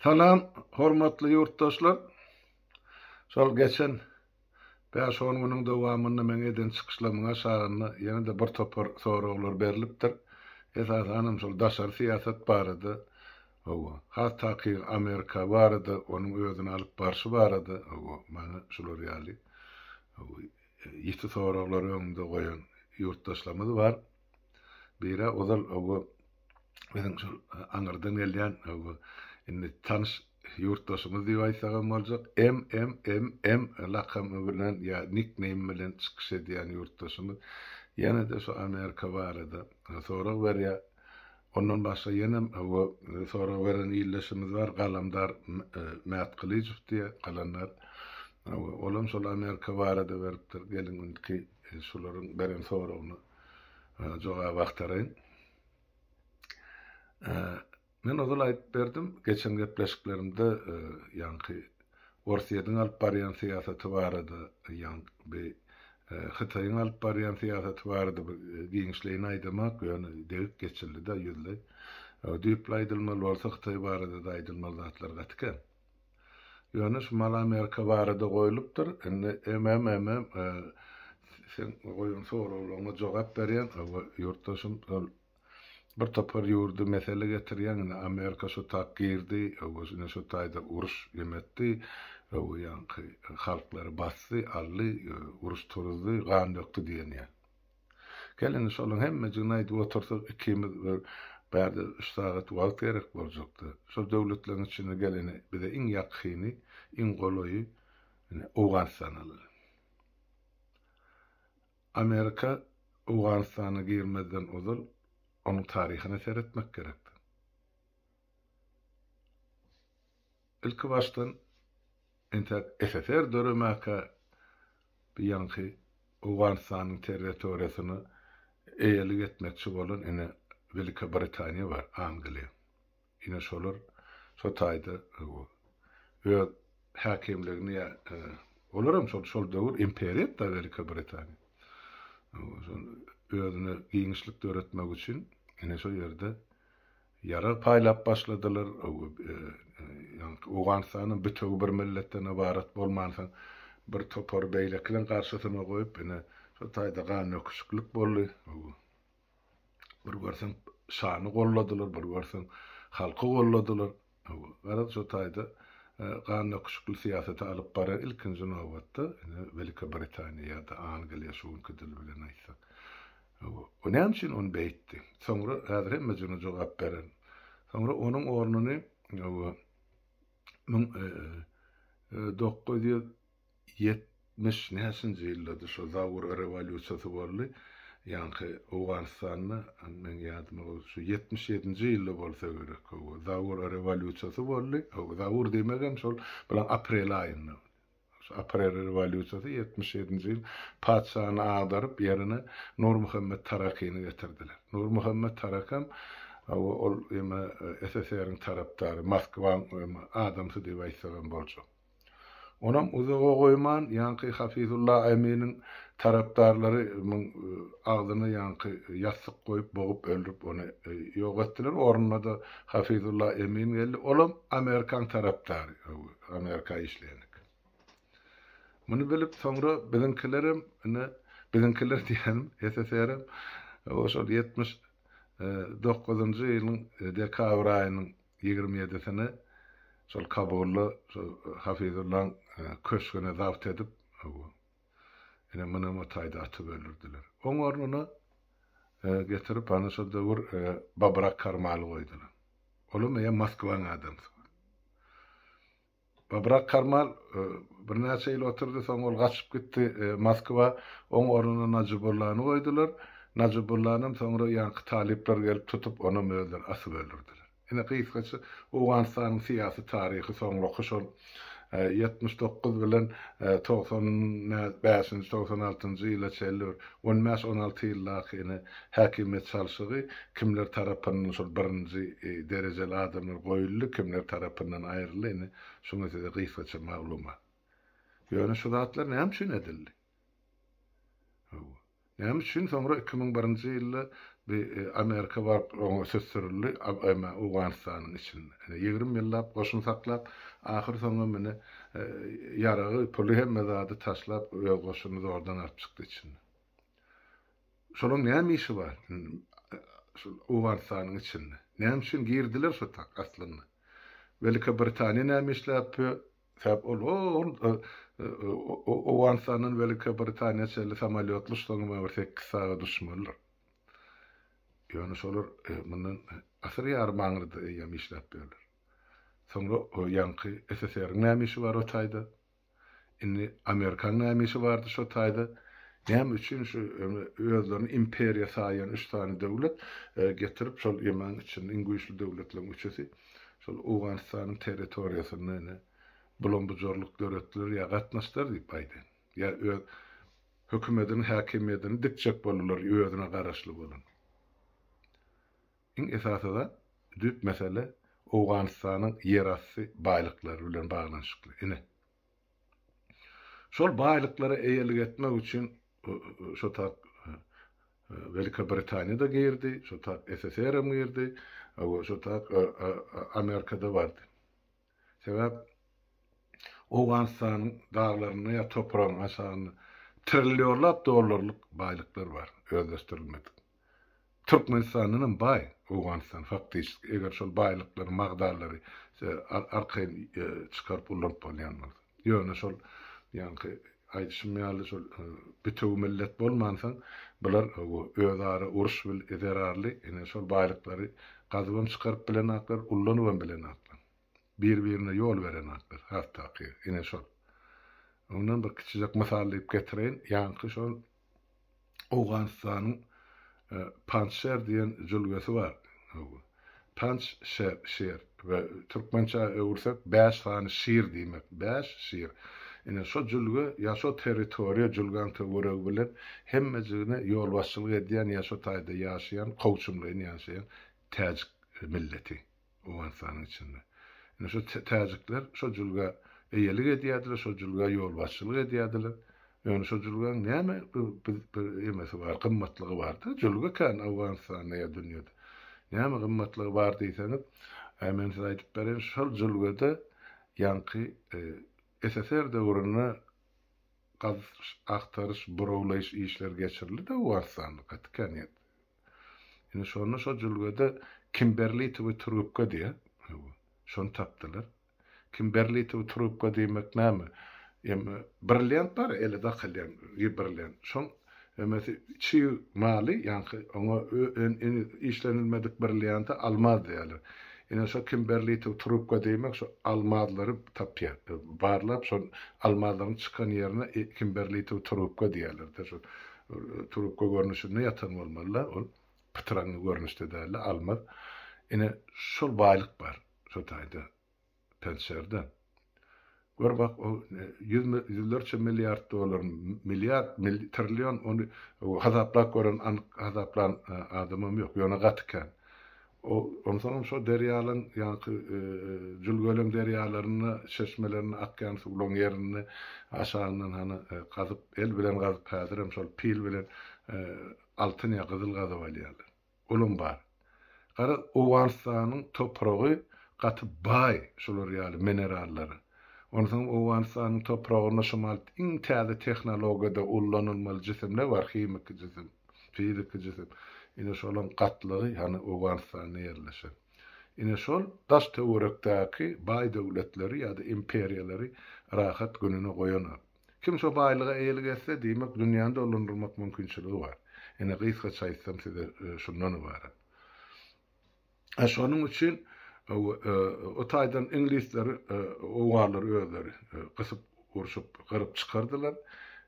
Salam, hormatly ýurtdaşlar! Şol geçen bäş-on günüň dowamynda meň eden çykyşlarymyň aşagynda ýene-de bir topar soraglar berlipdir. Esasanam şol daşary syýasat barada, hawa, has takygy Amerika barada, onuň özüni alyp barşy barada, hawa, maňa şular ýaly, hawa, ýiti soraglary öňümde goýan ýurtdaşlarymyz bar. Biri ozal bu biziň şol aňyrdan gelýän bu indi tanyş ýurtdaşymyz diýip aýtsagam boljak, MMMM lakamy bilen ýa nickname bilen çykyş edýän ýurtdaşymyz ýene-de şu Amerika barada sorag berýär. Ondan başga ýenem bu sorag beren ildeşimiz bar, Galamdar Mätgylyjow diýe, Galandar. Olam şol Amerika barada beripdir. Geliň indiki şularyň beren soragyna jogaby agtaraýyn. Men ozal aýdyp berdim, geçen gepleşiklerimde ýaňky Orsýetiň alyp barýan syýasaty barada, ýaňky Hytaýyň alyp barýan syýasaty barada bir giňişleýin aýdamak, ýöne degip geçildi-de ýüzleý. Düýpli aýdylmaly bolsa, Hytaý barada-da aýdylmaly zatlar gaty kän. Ýöneş malamerka barada goýlupdyr. Indi MM seň goýan soraglaryňa jogap berýän. Hawa, ýurtdaşym şol bir topar ýurdy mesele getirýäň. Indi Amerika şu tak girdi. Hawa, ine şu taýda uruş em etdi. Hawa, ýaňky halklary basdy, aldy, uruş turuzdy, gan dökdi diýen ýaly. Gel indi şolaryň hemmejigini aýdyp otursak ikimiz bir bärde üç sagat wagt gerek boljakdy. Şol döwletleriň içinde gel indi bize iň ýakyny, iň golaýy indi Owganystan alaly. Amerika Owganystana girmezden ozal onuň taryhyna seretmek gerekdi. Ilkibaşdan, entäk SSR döremäkä bu ýaňky Owganystanyň territoriýasyny eýelik etmekçi bolan ine Welika Britaniýa bar, Angliýa. Ine şolar şo taýda öz häkimligini ýa olar hem şol şol döwür imperiýat-da Welika Britaniýa. Özüne giňişlik döretmek üçin ine şo ýerde Ýarag paýlap başladylar, ýaňky Owganystanyň bütewi bir milletden ybarat bolmansoň bir topary beýlekiniň garşysyna goýup, ine, şo taýda gandöküşiklik boldy. Bir görseň şany golladylar, bir görseň halky golladylar. Garaz, şo taýda gandöküşikli syýasaty alyp baran ilkinji nobatda, ine, Welikä Britaniýa ýa-da Angliýa, şu günki dil bilen aýtsak. Hawa, o näme üçin ony beýtdi? Soňra, häzir hemme jyna jogap bererin. Soňra onuň ornuny, hawa, müň dokuz ýüz ýetmiş näçinji ýyldady, şo Zaur rewolýusiýasy boldy, ýaňky Owganystanda, meň ýadyma o şu ýetmiş ýedinji ýylda bolsa gerek, hawa, Zaur rewolýusiýasy boldy, hawa, Zaur diýmegem şol, bilaň aprel aýynda. Şu aprel rewolýusiýasy ýetmiş ýedinji ýyl patyşany agdaryp, ýerine Nurmuhammet Tarakyny getirdiler. Nurmuhammet Tarakam ol ýene SSR-iň tarapdary, Moskwaň adamsy diýip aýtsagam boljak. Onam uzaga goýman, ýaňky Hafizulla Eminiň tarapdarlary muň agzyna ýaňky ýassyk goýup, bogup öldürip ony ýok etdiler. Ornuna-da Hafizulla Emin geldi. Olam Amerikaň tarapdary. Amerika işleýänik. Muny bilip, soňra biziňkilerem, ine, biziňkiler diýýänim, SSR-em şol ýetmiş dokuzynjy ýylyň dekabr aýynyň ýigrimi ýedisini şol Kabulda şol Hafizullaň köşgüni zabt edip, Ine, muny o taýda atyp öldürdiler. Oň ornuna getirip, hany şo döwür Babrak Karmaly goýdular. Olam eýýäm Moskwanyň adamsy. Babrak Karmal birnäçe ýyl oturdy, soň ol gaçyp gitdi Moskwa. Oň ornuna Najibullany goýdular. Najibullany hem soňra ýaňky talyplar gelip tutup, onam özleri asyp öldürdiler. Ine, gysgaça Owganystanyň syýasy taryhy, soňraky şol ýetmiş dokuz bilen togsan bäşinji, togsan altynjy ýyla çenli bir on bäş, on alty ýyldaky ine, häkimiýet çalşygy, kimler tarapyndan şol birinji derejeli adamlar goýuldy, kimler tarapyndan aýryldy, ine, şuňa size gysgaça maglumat. Ýöne şu zatlar näme üçin edildi? Hawa. Näme üçin soňra iki müň birinji ýylda bi Amerika baryp oňa söz sürüldi, Obama Owganystanyň içinde ýigrimi ýyllap goşun saklap, ahyr soňam ine ýaragy, puly hemme zady taşlap öz goşuny zordan alyp çykdy içinde. Şolaň näme işi bar şol Owganystanyň içinde? Näme üçin girdiler şo tak aslynda? Welika Britaniýa näme işläp Sebäbi ol ol Owganystandan Welikiýa Britaniýa çenli samolýotly ştoňy maňa bir sekiz sagat uçmalydyr. Ýöne şolar mundan asyr ýarym aňyrda eýýäm işläp bilerler. Soňra o ýaňky SSR-iň näme işi bar o taýda? Indi Amerikaň näme işi bardy şo taýda? Näme üçin şu özlerini imperiýa saýýan üç sany döwlet getirip şol ýemäň içinde iň güýçli döwletleriň üçüsi? şol Owganystanyň territoriýasynda indi bulam-bujarlyk dörediler ýa gatnaşdylar diýip Baýden, ýa öz hökümetiniň häkimiýedini dikjek boldular özüne garaşly bolan. Iň esasy zat, düýp mesele Owganystanyň ýerasty baýlyklary bilen baglanyşykly. Ine. Şol baýlyklara eýelik etmek üçin şo tagt Welika Britaniýa-da girdi, şo tagt SSR-em girdi, şo tagt Amerika-da bardy. Sebäp Owganystanyň daglarynda ýa topragyň aşagynda trillionlap dollarlyk baýlyklar bar, özleşdirilmedik. Türkmenistandanam baý Owganystan faktyşki, eger şol baýlyklary, magdalary arkaýyn çykaryp ullanyp bolýan bolsa. Ýöne şol ýaňky aýdyşym ýaly şol bitewi millet bolmansoň, bular özara uruş bil zerarly, ine şol baýlyklary gazybam çykaryp bilenaklar, ullanybam bilenaklar. Bir-birine ýol berenaklar, has takygy, ine şol. Ondan bir kiçijek mysal diýip getireýin, ýaňky şol Owganystanyň Panjşer diýen jülgesi bar. Panj şer, şer we türkmençä öwürsek bäş sany şir diýmek. Bäş şir. Ine, şo jülge ýa şo territoriýa jülgäň töweregi bilen hemmejigine ýolbaşçylyk edýän ýa şo taýda ýaşaýan kowçumlaýyn ýaşaýan täjik milleti. Owganystanyň içinde. Indi şu täjikler şo jülgä eýelik edýärdiler, şo jülgä ýolbaşçylyk edýärdiler. Ýöne şo jülgäň näme bir bir emesi bar, gymmatlygy bardy. Jülge kän Owganystanda ýa dünýede. Näme gymmatlygy bar diýseňiz, äý men size aýdyp bereýin, şol jülgede ýaňky SSR döwründe gaz agtaryş, burawlaýyş işleri geçirildi-de Owganystanda, gaty kän ýerde. Indi şonda şo jülgede kimberlitowy trubka diýýär. Hawa, şony tapdylar. Kimberlitowy trubka diýmek näme? Em, brilliant bar, ele dakylýan bir brilliant. Şoň emesi çig maly, ýaňky oňa işlenilmedik brillianta almaz diýýärler. Ine, şo kimberlitowy trubka diýmek şo almazlary tapýar. Barlap, şol almazlaryň çykan ýerine kimberlitowy trubka diýýärler-de, şo Trubka görnüşinde ýatan bolmaly-da, ol pytraňňy görnüşde däldi, almaz. Ine, şol baýlyk bar şo taýda Penşerde. Gör bak, o ýüz ýüzlerçe milliard dollar, milliard, trillion, ony hasaplap gören, anyk hasaplan adamam ýok, ýöne gaty kän. Ol onsoňam şo derýalaň ýaňky jülgelem derýalarynda, çeşmelerinde akýan suwlaň ýerinde aşagyndan hany gazyp, el bilen gazyp, häzirem şol pil bilen altyn ýa gyzyl gazyp alýarlar. Olam bar. Garaz, Owganystanyň topragy gaty baý şular ýaly minerallara. Onsoňam Owganystanyň topragynda şumal iň täze tehnologiýada ullanylmaly jisimler bar, himiki jisim. Fiziki jisim. Ine şolaň gatlagy hany Owganystanda ýerleşen. Ine şol daş töwerekdäki baý döwletleri ýa-da imperiýalary rahat gününe goýanok. Kim şo baýlyga eýelik etse, diýmek dünýäni dolandyrmak mümkinçiligi bar. Ine gysgaça aýtsam size şundan ybarat. Şonuň üçin o taýdan iňlisleri, owganlary özleri gysyp, urşup, gyryp çykardylar.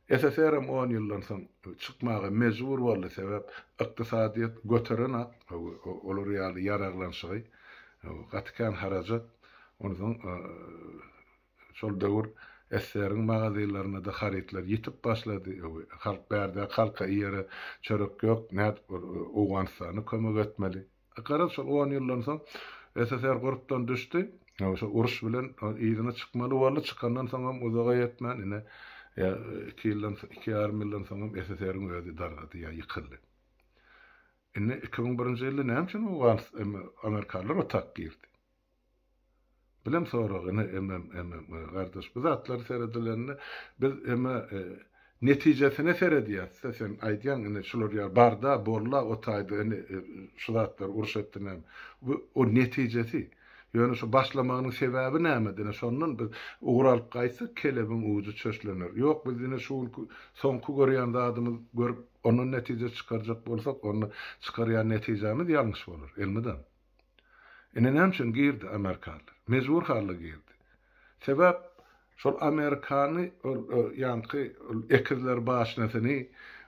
SSR hem on ýyldan soň çykmaga mejbur boldy, sebäp ykdysadyýet göteren-ak, olar ýaly ýaraglanyşygy, gaty kän harajat, onsoň Şol döwür SSR-iň magazinlerine-de harytlar ýitip başlady. Halk bärde halka iýere çörek ýok, nädip Owganystana kömek etmeli? Garaz, şol on ýyldan soň SSR gurpdan düşdi. Şol uruş bilen yzyna çykmaly boldy. Çykandan soňam uzaga ýetmän, ine, iki ýyldan, iki ýarym ýyldan soňam SSR-iň özi dargady ýa ýykyldy. Indi iki müň birinji ýylda näme üçin Owganystan, amerikalylar otak girdi? Bilim soragyny MMMMM gardaş bu zatlary seredilende biz eme netijesine seredýäsda sen aýdýaň ine şular ýaly barda bolda otaýda ine şu zatlar uruş etdi näme bu o netijesi ýöne şu başlamagynyň sebäbi nämede ine şondan biz ugur alyp gaýtsak kelebiň ujy çöşlener ýok biz ine şu günki soňky görýän zadymyz görüp ondan netije çykarjak bolsak onda çykarýan netijämiz ýalňyş bolar elmydam. Ine näme üçin girdi amerikanlar. Mejbur halda girdi. Sebäp şol amerikany ol ýaňky ekizler başynysyny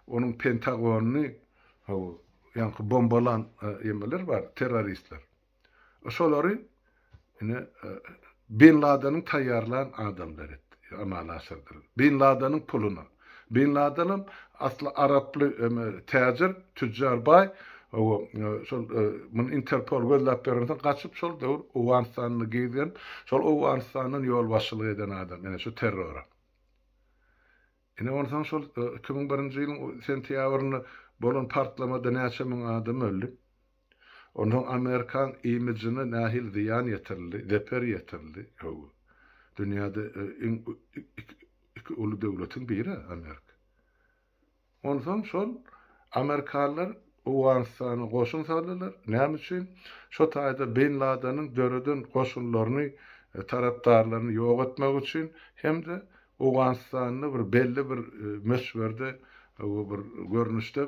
onuň pentagonyny haw ýaňky bombalan emeler bar terroristler. Şolary Ine, Bin Ladeniň taýýarlan adamlary amala aşyrdylar. Bin Ladeniň puluna. Bin Ladenem asly araply täjir, tüjjar baý. Owo, şol muny Interpol gözläp berensoň gaçyp şol döwür Owganystanda gezgen, şol Owganystandan ýolbaşçylyk eden adam ine şu terrora. Ine onsoň şol iki müň birinji ýylyň sentýabrynda bolan partlamada näçe müň adam öldi. Onsoň amerikan imidjine nähili zyýan ýetirildi, zeper ýetirildi? Hawa. Dünýäde iň iki uly döwletiň biri-ä Amerika. Onsoň şol amerikalylar Owganystana goşun saldylar. Näme üçin? Şo taýda Bin Ladeniň döreden goşunlaryny, tarapdarlaryny ýok etmek üçin hem-de Owganystanda bir belli bir möçberde, bir görnüşde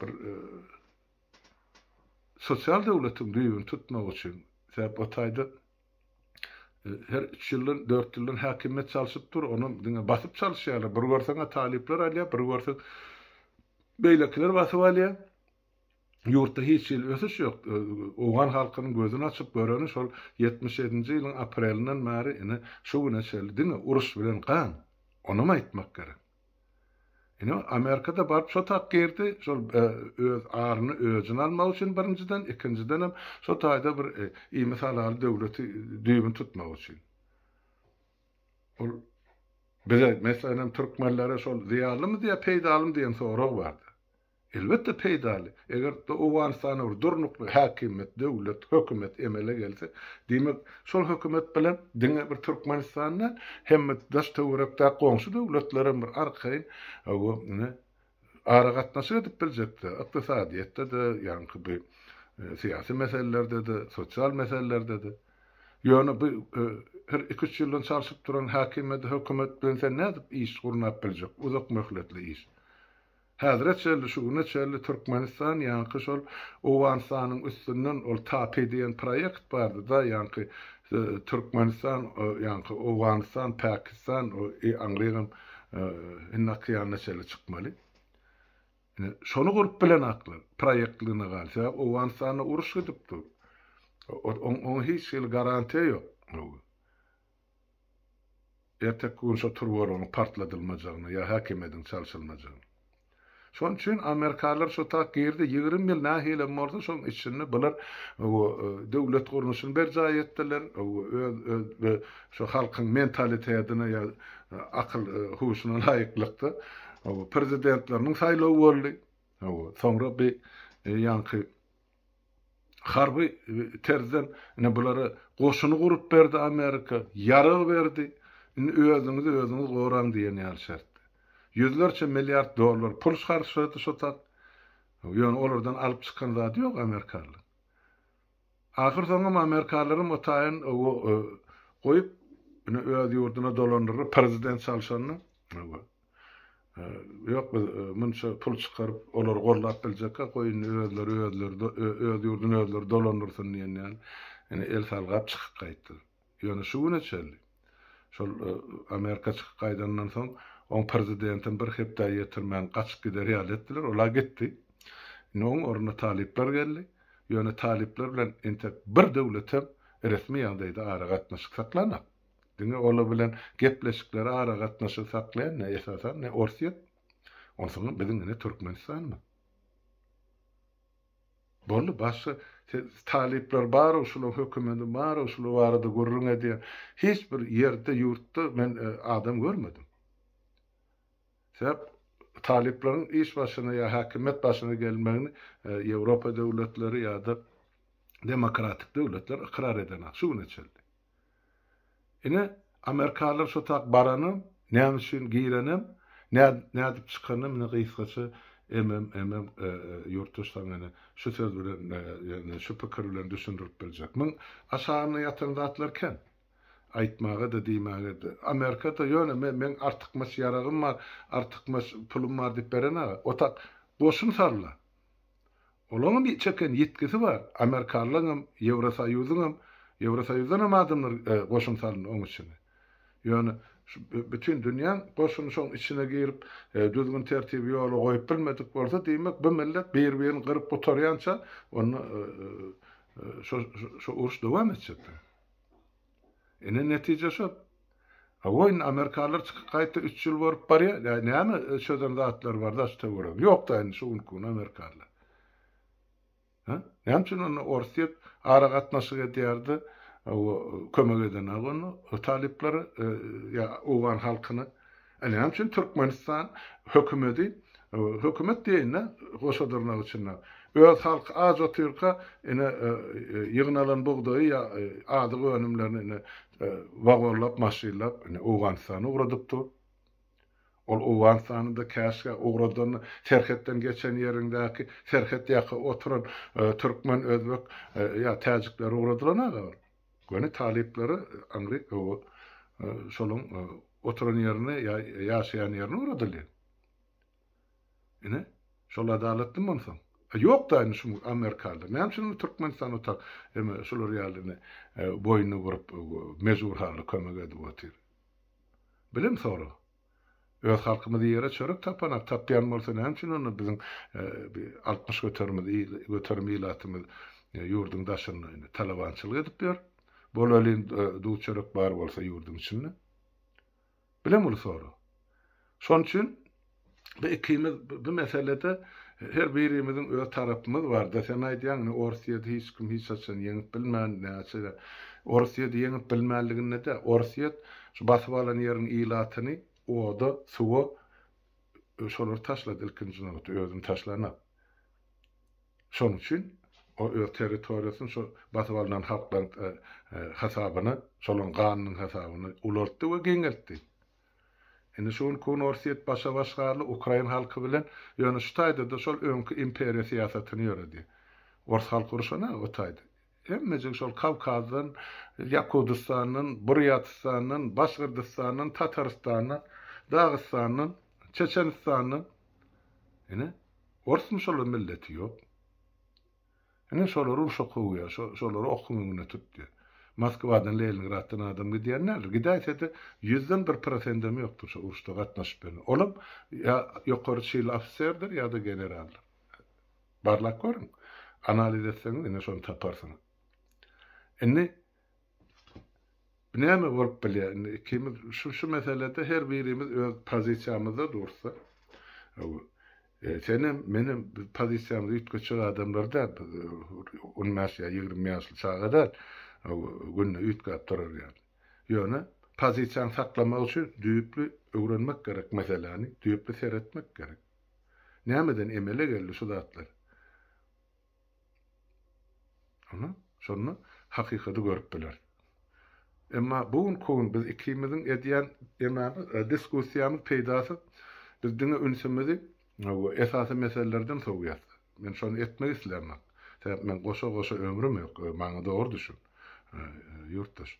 bir sosial döwletiň düýbüni tutmak üçin, sebäp o taýda her üç ýyldan, dört ýyldan häkimiýet çalşyp dur, onam diňe basyp çalyşýarlar, bir görseň-ä talyplar alýar, bir görseň beýlekiler basyp alýar. Ýurtda hiç hili ösüş ýok. Owgan halkynyň gözüni açyp göreni şol ýetmiş ýedinji ýylyň aprelinden bäri ine şu güne çenli diňe uruş bilen gan. Onam aýtmak gerek. Ine, Amerikada baryp şo tak girdi, şol öz aryny özüne almak üçin birinjiden, ikinjidenem şo taýda bir iýmit halal döwleti düýbüni tutmak üçin. Ol bize, meselenm, türkmenlere şol zyýanlymy diýýä, peýdalymy diýen sorag bardy. Elbetde peýdaly. Eger Owganystanda bir durnukly häkimiýet, döwlet, hökümet emele gelse, diýmek, şol hökümet bilen diňe bir Türkmenistan däl, hemme daş-töwerekdäki goňşy döwletler hem bir arkaýyn aragatnaşyk edip biljekdi, ykdysadyýetde-de, ýaňky bu syýasy meselelerde-de, sosial meselelerde-de. Ýöne bu her iki-üç ýyldan çalşyp duran häkimiýet, hökümet bilen sen nädip iş gurnap biljek, uzakmöhletli iş? Häzire çenli, şu güne çenli Türkmenistan ýaňky şol Owganystanyň üstünden ol TAPI diýen proýekt bardy-da, ýaňky Türkmenistan, ýaňky Owganystan, Pakistan, i aňrygym Hindi okeanyna çenli çykmaly. Ine, şony gurup bilenaklar. Proýektligine galy. Sebäbi Owganystanda uruş gidip dur. Oň oňa hiç hili garantiýa ýok. Erteki gün şo turbarygyň partladylmajagyny ýa häkimediň çalşylmajagyny. Şonuň üçin amerikalylar şo tak girdi, ýigrimi ýyl nähilem bolsa şoň içinde bular döwlet gurluşyny berjaý etdiler, öz şo halkyň mentalitetine ýa akyl huşuna laýyklykda prezidentleriniň saýlawy boldy. Soňra bi ýaňky Harby terzden ine bulara goşuny gurup berdi Amerika, ýarag berdi, indi özüňizi özüňiz goraň diýen ýaly şertde. Ýüzlerçe milliard dollar pul harçlady şo tak. Ýöne olardan alyp çykan zady ýok amerikalylaryň. Ahyr soňam amerikalylaram o taýyn goýup, ine öz ýurduna dolandylar, prezident çalşanda. Ýok, biz munça pul çykaryp, olary gollap biljekka, goý indi özleri özleri öz ýurduny özleri dolandyrsyn diýen ýaly, ine, el salgap çykyp gaýtdy. Ýöne şu güne çenli, şol Amerika çykyp gaýdandan soň, oň prezidentin bir hepdä ýetirmän gaçyp gider ýaly etdiler, ol-a gitdi. Indi oň ornuna talyplar geldi. Ýöne talyplar bilen entek bir döwletem resmi ýagdaýda aragatnaşyk saklanok. Diňe olar bilen gepleşikleri aragatnaşygy saklaýan ne esasan ne Orsýet onsoňam biziň ine Türkmenistanmy? Boldy başga talyplar barow şulaň hökümeti barow şular barada gürrüň edýän hiç bir ýerde ýurtda men e, adam görmedim. Sebäp talyplaryň iş başyna ýa häkimiýet başyna gelmegini e, Ýewropa döwletleri ýa-da demokratik döwletler ykrar edenok şu güne çenli. Ine, amerikalylar şo tak baranam, näme üçin girenem, nä, nädip çykanam, ine gysgaça MMMM ýurtdaş saňa ine şu söz bilen, ýagny şu pikir bilen düşündirip biljek. Muň aşagynda ýatan zatlar kän. Aýtmaga-da, diýmäge-de. Amerikada ýöne men, meň artykmaç ýaragym bar, artykmaç pulum bar diýip berenä, o tak goşun sarla. Olaňam çeken ýitgisi bar, amerikalylaňam, Ýewrosoýuzyňam, Ýewrosoýuzdanam adamlar goşun salyndy oň içine. Ýöne şu bütin dünýäň goşuny şoň içine girip, düzgün-tertibi ýola goýup bilmedik bolsa, diýmek, bu millet bir-birini gyryp gutarýança, onda şu uruş dowam etjekdir. Ine netije şol. Hawa indi amerikalylar çykyp gaýtdy üç ýyl bolup barýar. Ýa näme çözen zatlary bar daş töweregi. Ýok da indi şu günki gün amerikalylar. Ha? Näme üçin onda ors diýip ara gatnaşyk edýärdi? Hawa kömek edenok onda talyplara ýa owgan halkyna. Ine näme üçin Türkmenistan hökümedi, hökümet diýeýin-de goşa dyrnak içinde, öz halky aç otyrka ine ýygnalan bugdaýy ýa azyk önümlerini ine wagonlap, maşynlap ine Owganystana ugradyp dur. Ol Owganystana-da käşgä ugradanda serhetden geçen ýeriňdäki serhet ýaka oturan türkmen, özbek ýa täjikler ugradylan aga ol. Göni talyplara aňry gowy şolaň oturan ýerine ýa ýaşaýan ýerine ugradyly. Ine, şol adalatmy monsoň? A ýokda indi şum amerikalylar. Näme üçin indi Türkmenistan otak eme şular ýaly indi boýnuny burup mejbur halda kömek edip otyr? Bilen sora. Öz halkymyz ýere çörek tapana tapýan bolsa näme üçin onda biziň bi altmyş göterimimiz göterim ilatymyz ýurduň daşynda indi talabançylyk edip ýör. Bolelin duz çörek bar bolsa ýurduň içinde. Bileň uly sorag. Şonuň üçin bi ikimiz bi meselede her birimiziň öz tarapymyz barda sen aýdýaň indi Orsiýada hiç kim hiç haçan ýeňip bilmän näçe Orsiýada ýeňip bilmänliginde de Orsiýet Şu basyp alan ýeriň ilatyny oda, suwa şolary taşlady ilkinji nobatda, özüni taşlanok. Şonuň üçin o öz territoriýasyny şo basyp alnan halklaryň hasabyna, şolaryň ganynyň hasabyna ulaltdy we giňeltdi. Indi şu günki gün Orsýet başa-baş galdy ukrain halky bilen, ýöne şu taýda-da şol öňki imperiýa syýasatyny ýöredi. Ors halky urşan-a o taýda. Hemmejik şol Kawkazdan, Ýakudystandan, Burýatistandan, Başgyrdystandan, Tatarystandan, Dagystandan, Çeçenistandan. Ine, orsmy şolar milleti ýok. Ine şolar urşa kowýar, şo, şolary okuň öňüne tut diýýär. Moskwadan, Leningraddan adam gidýän däldir. Gidäýse-de, ýüzden bir prosendem ýokdur şo uruşda gatnaşyp bilen. Olam ýa ýokary çinli ofiserdir ýa-da generaldyr. Barlap görüň. Analiz etseňiz ine şony taparsyňyz. Indi näme bolup bilýär? Indi ikimiz şu şu meselede her birimiz öz pozisiýamyzda dursa, e, sen hem men hem biz pozisiýamyzy üýtgetjek adamlar däl. Biz e, on bäş ýa ýigrimi ýaşly çaga däl. Günde üýtgäp durar ýaly. Ýöne pozisiýany saklamak üçin düýpli öwrenmek gerek meseläni, düýpli seretmek gerek. Nämeden emele geldi şu zatlar? Ana, şonda hakykaty görüp bileris. Emma bu gün köwün biz ikimiziň edýän emamyz, e, diskussiýamyz peýdasyz. Biz diňe ünsümizi esasy meselelerden sowýas. Men şony etmek islämok. Sebäp men goşa-goşa ömrüm ýok. Maňa dogry düşün, e, ýurtdaş.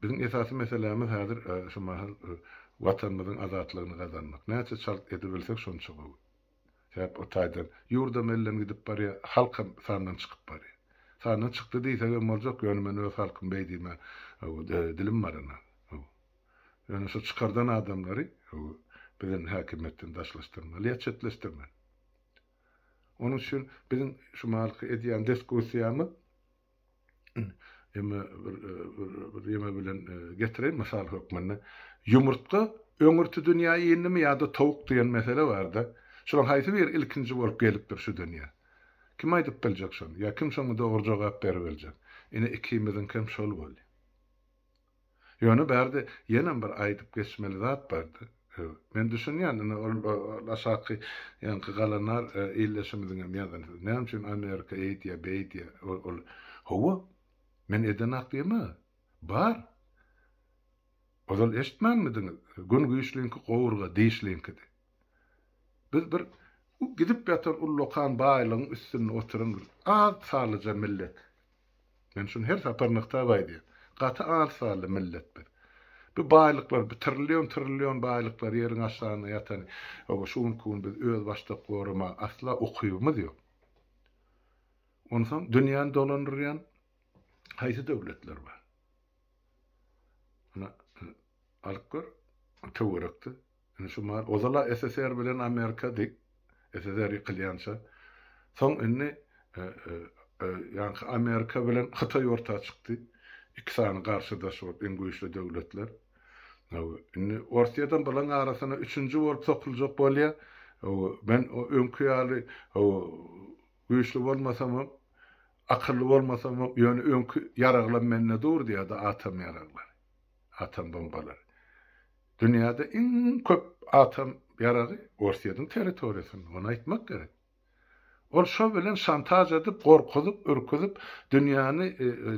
Biziň esasy meselämiz häzir şu mahal Watanymyzyň azatlygyny gazanmak. Näçe çalt edibilsek şonça gowy. Sebäp o taýdan ýurdam elden gidip barýar, halkam sandan çykyp barýar. Sandan çykdy diýsegem boljak, ýöne men öz halkym beý diýmä dilim barana. Ýöne şu çykardan adamlary biziň häkimiýetden daşlaşdyrmaly ýa çetleşdirmeli. Onuň üçin biziň şu mahalky edýän diskussiýamyz, Ýeme bir bir ýeme bilen getireýin mysal hökmünde. Ýumurtga öňürti dünýä indimi ýa-da towuk diýen mesele barda. Şulaň haýsy biri ilkinji bolup gelipdir şu dünýä? Kim aýdyp biljek şony? Ýa kim şoňa dogry jogap beribiljek? Ine ikimiziňkem şol bolýa. Ýöne bärde ýenem bir aýdyp geçmeli zat bardy. Men düşünýän, ine, ol aşaky ýaňky galanar ildeşimiziňem ýazan sözi. Näme üçin Amerika eýdýär, beýdýär? Ol, Hawa, men edenak diýemä. Bar. Ozal eşitmänmidiňiz? Gün güýçliňki gowurga dişliňkidi. Biz bir gidip ýatan ullakan baýlygyň üstünde oturan bir az sanlyja millet. Men şuny her sapar nygtap aýdýan. Gaty az sanly millet biz. Bu baýlyklar, bu trillion-trillion baýlyklar ýeriň aşagynda ýatan, oba şu günki gün biz öz başdak goramaga asla ukybymyz ýok. Onsoň dünýäni dolandyrýan haýsy döwletler bar? Muny alyp gör, töwerekde. Indi şu mahaly ozal-a SSR bilen Amerika diýip, SSR ýykylýança, soň indi ýaňky Amerika bilen Hytaý orta çykdy. Iki sany garşydaş bolup, iň güýçli döwletler. Indi Orsýetem bularyň arasyna üçünji bolup sokuljak bolýar. Men öňki ýaly güýçli bolmasamam, Akylly bolmasamok, ýöne öňki ýaraglam mende dur diýýärdi, atam ýaraglary. Atam bombalary. Dünýäde iň köp atam ýaragy Orsýetiň territoriýasynda, ony aýtmak gerek. Ol şo bilen şantaž edip, gorkuzyp, ürküzip, dünýäni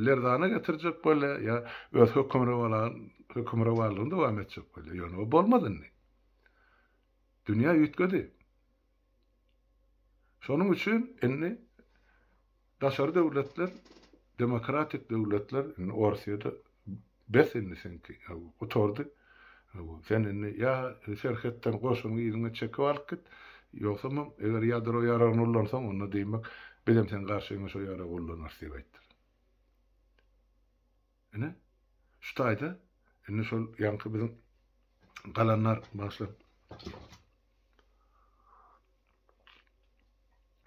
lerzana getirjek bolýa ýa öz hökümrowanlygyny dowam etjek bolýa. Ýöne o bolmaz indi. Dünýä üýtgedi. Şonuň üçin indi daşary döwletler, demokratik döwletler indi Orsýede bes indi seňki, gutardy. Sen indi ýa serhetden goşunyňy yzyňa çekip alyp git, ýogsamam eger ýadro ýaragyny ullansaň, onda diýmek, bizem seň garşyňa şo ýaragy ullanarys diýip aýtdylar. Ine, şu taýda indi şol ýaňky biziň galanlar başlap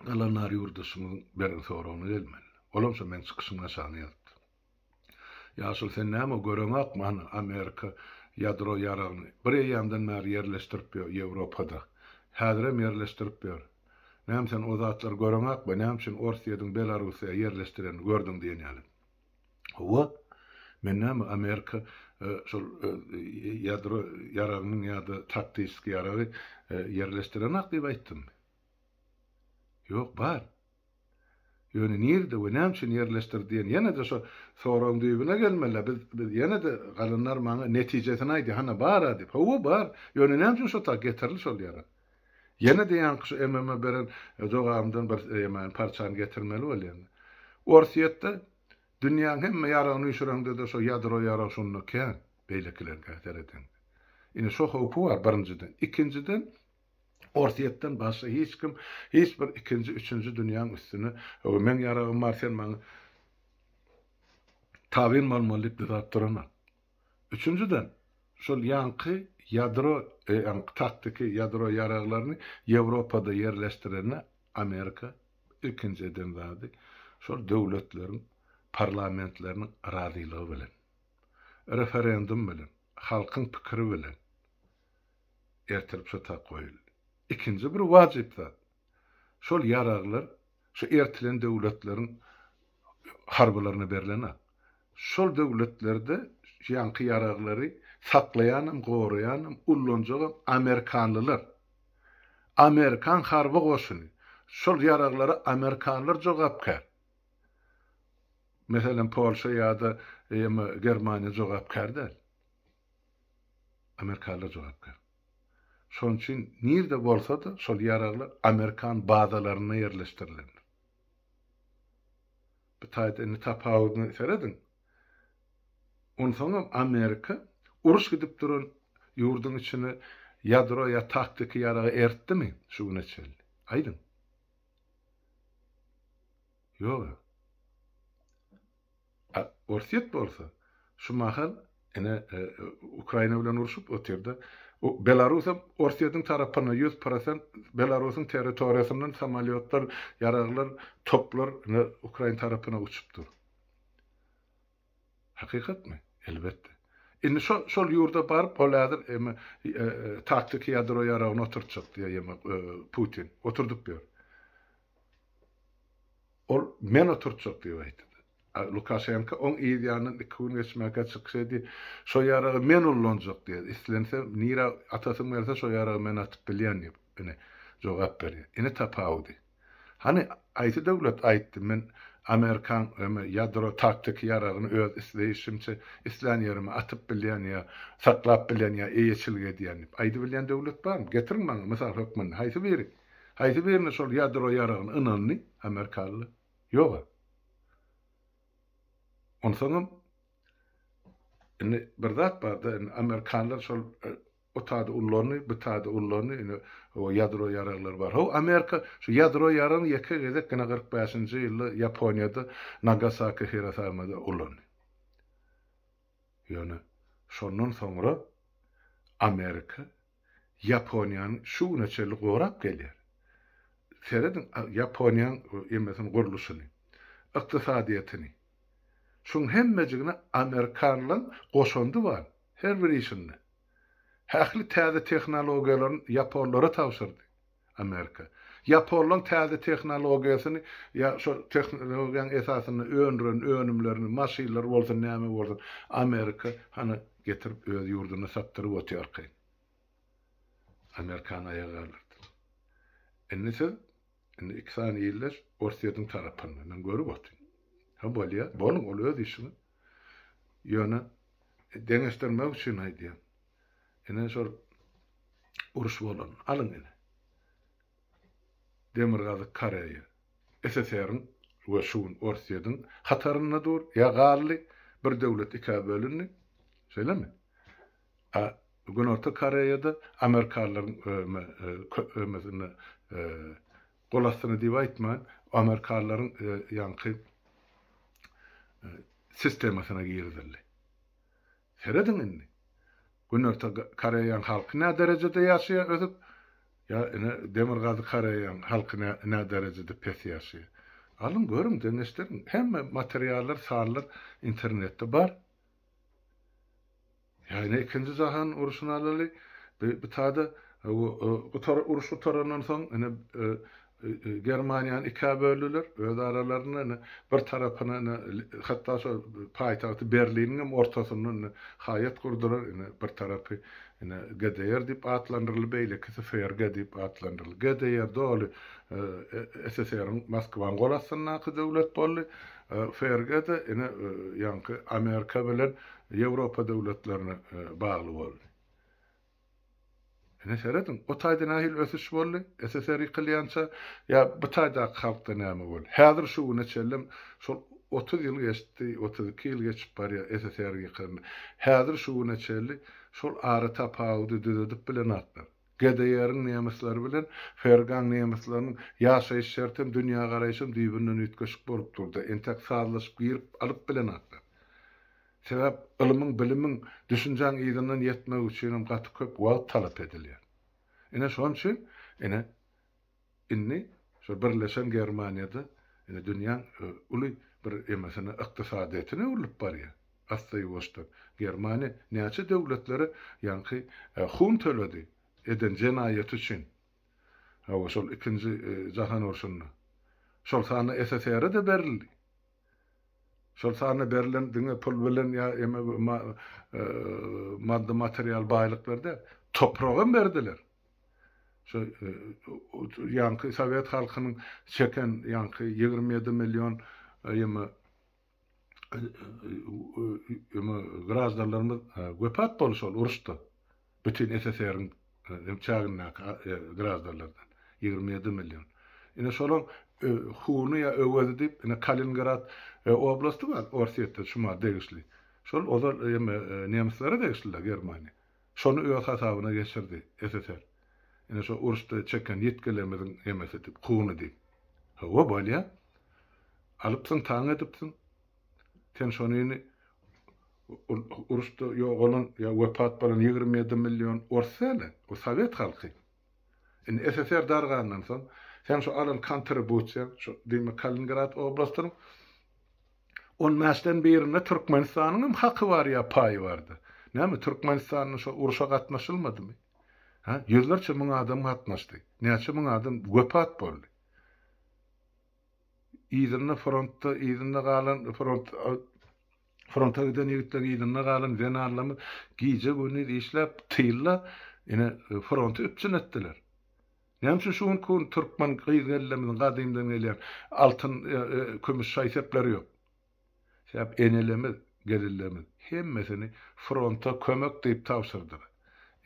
galanlar ýurdaşymyzyň bergi soragyna gelmeli. Olam şo meň çykyşymyň aşagyna ýazypdy. Ýaşuly sen näme göreňakmy hany Amerika ýadro ýaragyny bir eýýamdan bäri ýerleşdirip ýör Ýewropada. Häzirem ýerleşdirip ýör. Näme sen o zatlary göreňakmy näme üçin Orsýediň Belarusyýa ýerleşdirenini gördüň diýen ýaly. Howa, men näme Amerika şol ýadro ýaragynyň ýa-da taktiski ýaragy ýerleşdirenok diýip aýtdymmy? Ýok, bar. Ýöne nirde we näme üçin ýerleşdirdi diýen ýene-de şo soragyň düýbüne gelmeli-ä, biz biz ýene-de galanlar maňa netijesini aýdýa, hana bar-a diýip. Howa, bar. Ýöne näme üçin şo tak getirildi şol ýarag? Ýene-de ýaňky şu MM-e beren jogabymdan bir ýaman parçany getirmeli bolýan. Orsýetde dünýäň hemme ýaragyny üýşüreňde-de şo ýadro ýaragy şonda kän, beýlekileriňkä seredeňde. Ine şo howpy bar birinjiden. Ikinjiden, Orsýetden başga hiç kim, hiç bir ikinji, üçünji dünýäň üstüne Hawa meň ýaragym bar, sen maňa tabyn bolmaly diýip dyzap duranok. Üçünjiden, şol ýaňky ýadro, ýaňky taktiki ýadro ýaraglaryny Ýewropada ýerleşdirende Amerika ilkinji eden zady, şol döwletleriň parlamentleriniň razylygy bilen, referendum bilen, halkyň pikiri bilen ertirip şu tak goýuldy. Ikinji bir wajyp zat, Şol ýaraglar şu ertilen döwletleriň harbylaryna berlen-ä. Şol döwletlerde şu ýaňky ýaraglary saklaýanam, goraýanam, ullanjagam amerikanlylar. Amerikan harby goşuny. Şol ýaraglara amerikanlar jogapkär. Meselem, Polşa ýa-da Germaniýa jogapkär däl. Amerikanlar jogapkär. Şonuň üçin nirde bolsa-da şol ýaraglar amerikan bazalarynda ýerleşdirilendir. Bu taýda indi tapawudyny serediň. Onsoňam Amerika uruş gidip duran ýurduň içine ýadro ýa taktiki ýaragy eritdimi şu güne çenli? Aýdyň. Ýog-a. A Orsýet bolsa, şu mahal ine, Ukraina bilen urşup otyr-da. Belarus hem Orsýetiň tarapynda, ýüz prosent Belarusyň territoriýasyndan samolýotlar, ýaraglar, toplar ine, Ukraina tarapyna uçup dur. Hakykatmy? Elbetde. Indi şo, şol ýurda baryp, ol häzir eme, taktiki ýadro ýaragyny oturtjak diýýär ýemek, Putin. Oturdyp ýör. Ol Men oturtjak diýip aýtdy. Lukaşenko oň yz ýanyndan iki gün geçmänkä çykyş eddi, Şo ýaragy men ullanjak diýýär, islense nirä atasym gelse şo ýaragy men atyp bilýän diýip, ine, jogap berýär. Ine tapawudy. Hany, haýsy döwlet aýtdy, men amerikan ýa-da ýadro taktiki ýaragyny öz isleýşimçe islän ýerime atyp bilýän ýa saklap bilýän ýa eýeçilik edýän diýip, aýdybilýän döwlet barmy? Getiriň maňa mysal hökmünde, haýsy biri? Haýsy birine şol ýadro ýaragyny ynandy amerikalylar? Ýog-a. Onsoňam indi bir zat bar-da, indi amerikalylar şol o tada ullandy, bu tada ullandy, indi o ýadro ýaraglary bar. Hawa, Amerika şu ýadro ýaragyny ýeke gezek gynä kyrk bäşinji ýylda Ýaponiýada Nagasaki, Hirosamada ulandy. Ýöne şondan soňra Amerika Ýaponiýany şu güne çenli gorap gelýär. Serediň Ýaponiýanyň emesini gurluşyny, ykdysadyýetini. Şuň hemmejigine amerikanlaň goşandy bar, her bir işinde. Hähli täze tehnologiýalaryny ýaponlara tabşyrdy. Amerika. Ýaponlaryň täze tehnologiýasyny ýa şo tehnologiýaň esasynda öndüren önümlerini, maşynlary bolsun, näme bolsun, Amerika hany getirip öz ýurdunda satdyryp otyrkaý. Amerikany aýaga galdyrdy. Indi siz indi iki sany illeş Orsýetiň tarapynda. Men görüp otyryn. Ha bolýa, boluň, ol öz işiňiz. Ýöne deňeşdirmek üçin aýdýan. Ine şol uruş bolan. Alyň ine. Demirgazyk Koreýa SSR-iň we şu gün Orsýetiň hatarynda dur, ýa galdy, bir döwlet ikä bölündi. Şeýlemi? A Günorta Koreýada amerikalylaryň köpemesine gol astyna diýip aýtman, amerikalylaryň ýaňky sistemasyna girizildi. Serediň indi. Günorta Koreýaň halky nä derejede ýaşaýar ösüp, ýa ine Demirgazyk Koreýaň halky nä nä derejede pes ýaşaýar. Alyň görüň deňeşdiriň. Hemme materiallar sanlar internetde bar. Ýa ine ikinji jahan uruşyny alaly. Bi bitada gutar uruş gutarandan soň ine Germaniýany ikä böldüler, öz aralarynda indi bir tarapyna indi hatda şo paýtagty Berliniň hem ortasynda indi haýat gurdular, indi bir tarapy indi GDR diýip atlandyryldy, beýlekisi FRG diýip atlandyryldy. GDR doly SSR-iň, Moskwanyň gol astyndaky döwlet boldy, FRG-de indi ýaňky Amerika bilen Ýewropa döwletlerine bagly boldy. Ine serediň, o taýda nähili ösüş boldy, SSR ýykylýança, ýa bu taýdaky halkda näme boldy? Häzir şu güne çenlem, şol otuz ýyl geçdi, otuz iki ýyl geçip barýar SSR ýykylandan. Häzir şu güne çenli şol ara tapawudy düzedip bilenoklar. GDR-iň nemesleri bilen FRG-iň nemeslarynyň ýaşaýyş şertem, dünýägaraýşam düýbünden üýtgeşik bolup durdy. Entek sazlaşyp girip alyp bilenoklar. Sebäp ylymyň, bilimiň, düşünjäň yzyndan ýetmegi üçinem gaty köp wagt talap edilýär. Ine şoň üçin, ine, indi şo birleşen Germaniýada, ine, dünýäň uly bir emesine, ykdysadyýetine öwrülip barýar. Asda-ýuwaşdan. Germaniýa näçe döwletlere, ýaňky, hun töledi, eden jenaýaty üçin. Hawa, şol ikinji jahan urşunda. Şol sanda SSR-e-de berildi. Şol sanda berlen diňe pul bilen ýa emek maddy material baýlyklar däl, topragam berdiler. Şo ýaňky sowet halkynyň çeken ýaňky ýigrimi ýedi million ýymy ýymy graždanlarymyz wepat bolşy ol uruşda. Bütin SSR-iň çägindäki graždanlardan, ýigrimi ýedi million. Ine, şolaň huny ýa öwezi diýip, ine, Kaliningrad oblasty bar, Orsýetde şumar degişli. Şol ozal eme nemeslere degişli-dä Germaniýa. Şony öz hasabyna geçirdi SSR. Ine, şo uruşda çeken ýitgilerimiziň emesi diýip, huny diýip. Hawa, bolýar. Alypsyň, taň edipsiň. Sen şonyny uruşda ýogalan ýa wepat bolan ýigrimi ýedi million ors däl-ä, bu sowet halky. Indi SSR dargandan soň, seň şu alan kontribusiýaň, şu diýmek Kaliningrad oblastynyň on bäşden birinde Türkmenistanyň hem haky bar ýa paýy bardy. Näme, Türkmenistanda şo uruşa gatnaşylmadymy? Hä, ýüzlerçe müň adam gatnaşdy. Näçe müň adam wepat boldy. Yzynda frontda yzynda galan front fronta giden ýigitleriň yzynda galan zenanlarymyz gije gündiz işläp tylda ine fronty üpjün etdiler. Näme üçin şu günki gün türkmen gyz gellerimiziň gadymdan gelýän altyn kümüş şaý-sepleri ýok? Sebäbi enelerimiz, gelinlerimiz hemmesini fronta kömek diýip tabşyrdylar.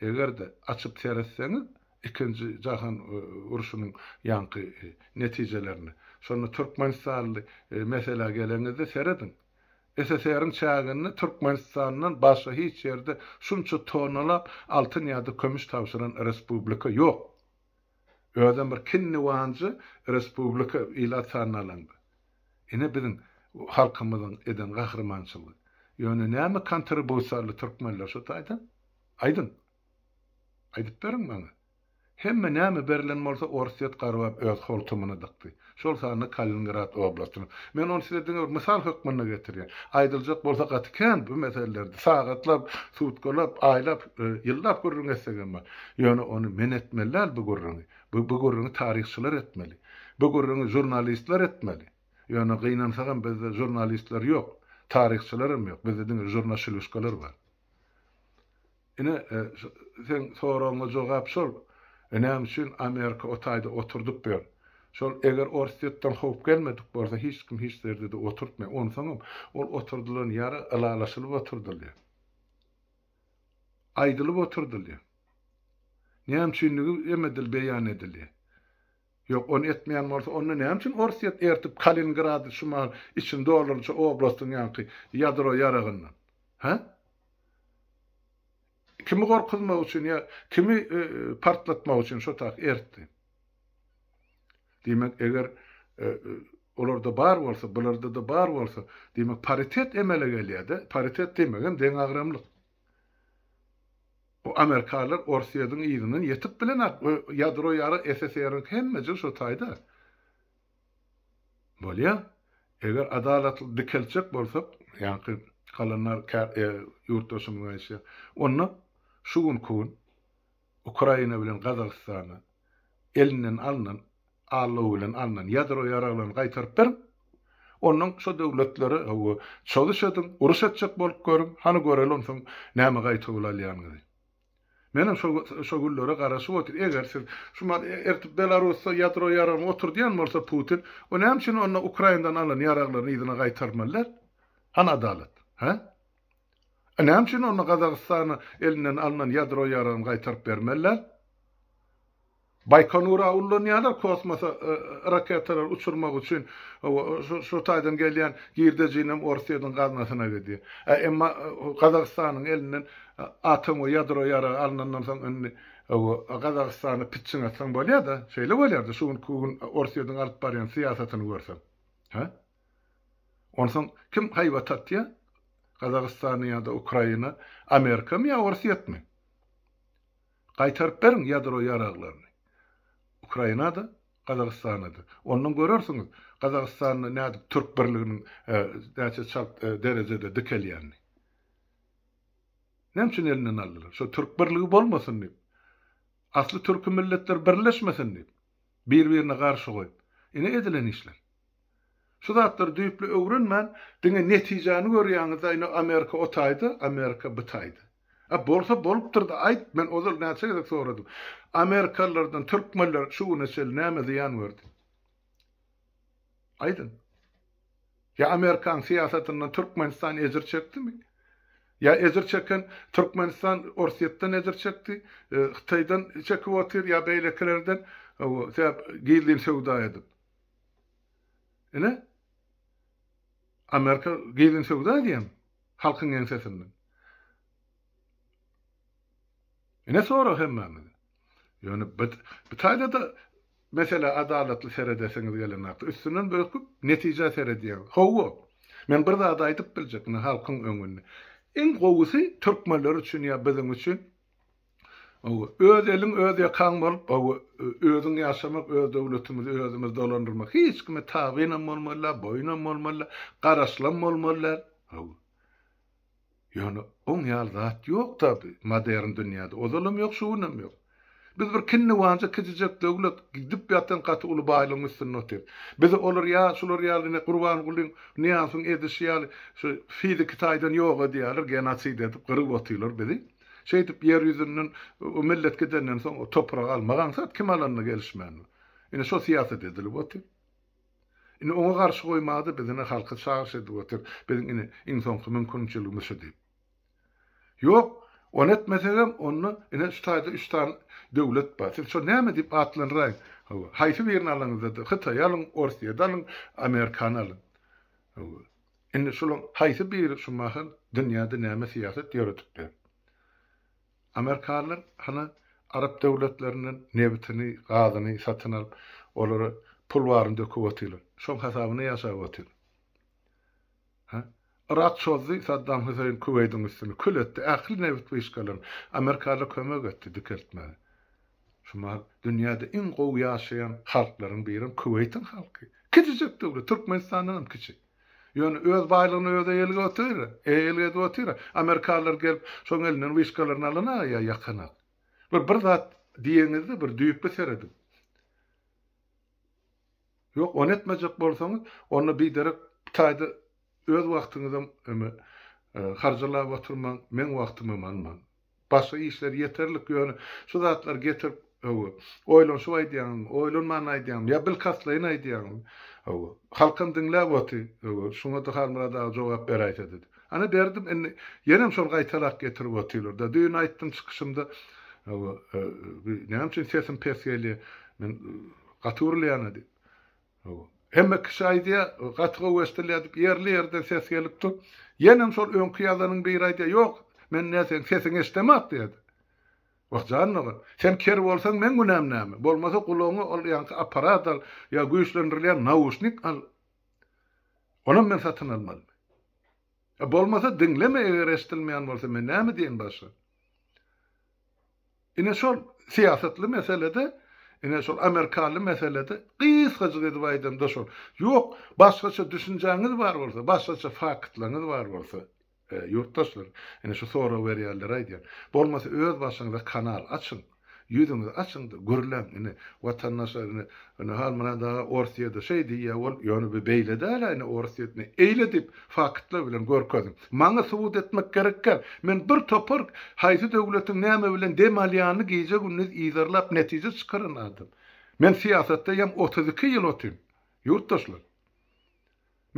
Eger-de açyp seretseňiz ikinji jahan urşunyň ýaňky netijelerini, şonda türkmenistanly meselä geleňizde serediň, SSR-iň çäginde Türkmenistandan başga hiç ýerde şunça tonnalap altyn ýa-da kömüş tabşyran respublika ýok. Özem bir kinni wanja respublika ilat sanyny alanda. Ine biziň halkymyzyň eden gahrymançylygy. Ýöne näme kontribusiýaly türkmenler şu taýdan? Aýdyň. Aýdyp beriň maňa. Hemme näme berlen bolsa orsýet garbap öz holtumyna dykdy. şol sanda Kaliningrad oblastynyň. Men ony size diňe bir mysal hökmünde getirýän. Aýdyljak bolsa gaty kän bu meselelerde. Sagatlap, sutkalap, aýlap, ýyllap gürrüň etsegem bar. Ýöne ony men etmeli däl bu gürrüňi. Bu bu gürrüňi taryhçylar etmeli. Bu gürrüňi žurnalistler etmeli. Ýöne gynansagam bizde žurnalistler ýok. Taryhçylaram ýok. Bizde diňe žurnaşiluşkalar bar. Ine, seň soragyňa jogap şol. Näme üçin Amerika o taýda oturdyp ýör? Şol eger Orsýetden howp gelmedik bolsa, hiç kim hiç ýerde-de oturtmaýar. Onsoňam, ol oturdylan ýere ylalaşylyp oturdylýar. Aýdylyp oturdylýar. Näme üçindigi hem edil beýan edilýär. Ýok, ony etmeýän bolsa, onda näme üçin Orsýet ertip Kaliningrady şu mahal içini doldurdyşy oblastyň ýanky ýadro ýaragyndan? Hä? Kimi gorkuzmak üçin ýa kimi partlatmak üçin şo taýy ertdi? Diýmek, eger olarda bar bolsa, bularda-da bar bolsa, diýmek paritet emele gelýär-de, paritet diýmegem deňagramlyk. Bu amerikalylar Orsýediň yzyndan ýetip bilenok we ýadro ýarag SSR-niňki hemme jyl şo taýda. Bolýa. Eger adalatly dikeltjek bolsak, ýaňky kalanlar ýurtdaşymyz aýtýar. Onda şu günki gün Ukraina bilen Gazagystana elinden alnan allow bilen alnan ýadro ýaraglaryny gaýtaryp beriň. Ondan şo döwletlere hawa çozuş ediň, uruş etjek bolup görüň, hany göreli onsoň näme gaýta ol alýanyňyzy. Menem şo şo günlere garaşyp otyr. Eger siz şu mal ertip Belarusda ýadro ýaragyny oturdýan bolsa Putin, o näme üçin onda Ukrainadan alan ýaraglaryny yzyna gaýtarmaly däl? Hany adalat? Hä? A näme üçin onda Gazagystana elinden alnan ýadro ýaragny gaýtaryp bermeliler? Baýkonura ullanýarlar kosmosa raketalary uçurmak üçin şu taýdan gelýän girdejinem Orusýetiň gaznasyna gidýär. A emma Gazagystanyň elinden atom we ýadro ýaragy alnandan soň indi Gazagystana pitçiň atsaň bolýar-da. Şeýle bolýar-da şu günki gün Orusýetiň alyp barýan syýasatyny görseň. Hä? Onsoň kim haýbat atýar? Gazagystany ýa-da Ukraina, Amerikamy ýa Orsýetmi? Gaýtaryp beriň ýadro ýaraglaryny. Ukraina-da, Gazagystana-da. Ondan görersiňiz, Gazagystanda nädip türk birliginiň näçe çalt derejede dikelýänini. Näme üçin elinden aldylar? Şo türk birligi bolmasyn diýip. Asly türki milletler birleşmesin diýip. Bir-birine garşy goýup. Ine edilen işler. Şu zatlary düýpli öwrenmän diňe netijäni görýäňizda ine Amerika o taýda Amerika bu taýda. A bolsa bolupdyrda aýt men ozal näçe gezek soradym. Amerikalylardan türkmenler şu güne çenli näme zyýan gördi. Aýdyň. Ýa Amerikanyň syýasatyndan Türkmenistan ejir çekdimi? Ýa ejir çeken Türkmenistan Orsýetden ejir çekdi, e, Hytaýdan çekip otyr ýa beýlekilerden, owo, sebäp gizlin söwda edip. Ine, Amerika gizlin söwda edýän halkyň ýeňsesinden. Ine sorag hemmämiz. Ýöne bit bitaýda-da meselä adalatly seredesiňiz gelen wagtda, üstünden böküp netijä seredýäňiz. Hawa, men bir zady aýdyp biljek ine halkyň öňünde. Iň gowusy türkmenler üçin ýa biziň üçin Hawa, öz eliň, öz ýakaň bolup, hawa, özüň ýaşamak, öz döwletimizi özümiz dolandyrmak, hiç kime tabynam bolmaly däl, boýunam bolmaly däl, garaşylam bolmaly däl. Hawa. Ýöne oň ýaly zat ýok tabi, modern dünýäde, ozalam ýok, şu günem ýok. Biz bir kinniwanja kiçijek döwlet, gidip ýatan gaty uly baýlygyň üstünde otyrys. Bizi olar ýa şular ýaly ine Gurbangulyň, Nyýazyň edişi ýaly şu fiziki taýdan ýok edýärler, genosid edip, gyryp otyrlar bizi. Şeýdip ýer ýüzünden o millet gidenden soň o topragy almak aňsat kim alanyna gelişmändir. Ine şo syýasat edilip otyr. Ine oňa garşy goýmada biz ine halky çagyryş edip otyr. Biziň ine iň soňky mümkinçiligimiz şu diýip. Ýok, ony etmesegem onda ine şu taýda üç sany döwlet bar. Siz şo näme diýip atlandyraýyň. Hawa, haýsy birini alaňyzda-da, Hytaýy alyň, Orsyýa-da alyň, Amerikany alyň. Hawa. Indi şulaň haýsy biri şu mahal dünýäde näme syýasat ýöredipdir? Amerikalylar hany arap döwletlerinden nebitini, gazyny satyn alyp, olara pul baryny döküp otyrlar. Şoň hasabyna ýaşap otyrlar. Ha? Yrak çozdy, Saddam Hüseýin Kuweýdiň üstüni kül etdi, ähli nebit wyşkalaryny. Amerikalylar kömek etdi dikeltmäge. Şu mahal dünýäde iň gowy ýaşaýan halklaryň birem Kuweýtiň halky. Kiçijek döwlet, Türkmenistandan hem kiçi. Ýöne öz baýlygyny özi eýelik otyr, eýelik edip otyr. Amerikalylar gelip, şoň elinden wişkalaryny alana ýa ýakanak. Bir bir zat diýeňizde bir düýpli serediň. Ýok, ony etmejek bolsaňyz, onda biderek bu taýda öz wagtyňyzam harjalap oturmaň, meň wagtymam almaň. Başga işler ýeterlik ýöne şu zatlary getirip hawa oýlanşyp aýdýaňyzmy oýlanman aýdýaňmy ýa bilkastlaýyn aýdýaňyzmy hawa halkam diňläp oty hawa şuňada Halmyrat aga jogap beräýse dedi ana berdim indi ýenem şol gaýtalak getirip otyrlarda düýn aýtdym çykyşymda hawa bi näme üçin sesim pes gelýä men gaty urulýana diýip Hemme kişi aýdýar, gaty gowy eşdilýär diýip, ýerli-ýerden ses gelip dur. Ýenem şol öňki ýazanyň biri aýdýar, Ýok, men nä seň sesiňi eşidemok diýýärdi. Wah, jan dogan, sen ker bolsaň meň günäm näme? Bolmasa gulagyňa ol ýaňky apparat al ýa güýçlendirilýän nauşnik al. Onam men satyn almalymy? E bolmasa diňleme eger eşdilmeýän bolsa men näme diýen başga. Ine şol syýasatly meselede ine şol amerikaly meselede gysgajyk edip aýdamda şol. Ýok başgaça düşünjäňiz bar bolsa başgaça faktlaryňyz bar bolsa e, ýurtdaşlar ine şu sorag berýänlere aýdýan. Bolmasa öz başyňyza kanal açyň. Ýüzüňizi açyňda gürläň ine watandaşlar ine ine hal muna daga orsyýede şeý diýýä ol ýöne bu beýle dälä ine orsyýetne eýle diýip faktlar bilen görkeziň maňa subut etmek gerekgär men bir topar haýsy döwletiň näme bilen dem alýanyny gije gündiz yzarlap netije çykaran adam men syýasatda ýam otuz iki ýyl otyn ýurtdaşlar.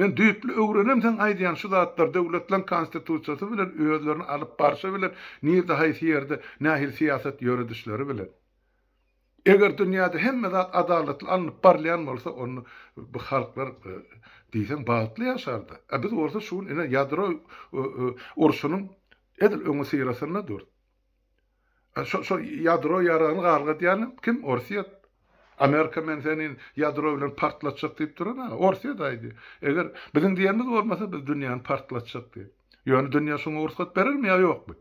Men düýpli öwrenem seň aýdýan şu zatlar döwletleň konstitusiýasy bilen özlerini alyp barşy bilen nirde haýsy ýerde nähili syýasat ýöredişleri bilen. Eger dünýäde hemme zat adalatly alnyp barylýan bolsa onda bu halklar diýseň bagtly ýaşardy. A biz bolsa şu gün ine ýadro urşunyň edil öňüsyrasynda durus. A şo şo ýadro ýaragyny galgadýan kim Orsýet. Amerika men seni ýadro bilen partlatjak diýip duran a Orsýet aýdy. Eger biziň diýenimiz bolmasa biz dünýäni partlatjak diýip. Ýöne dünýä şoňa rugsat berermi ýa ýokmy?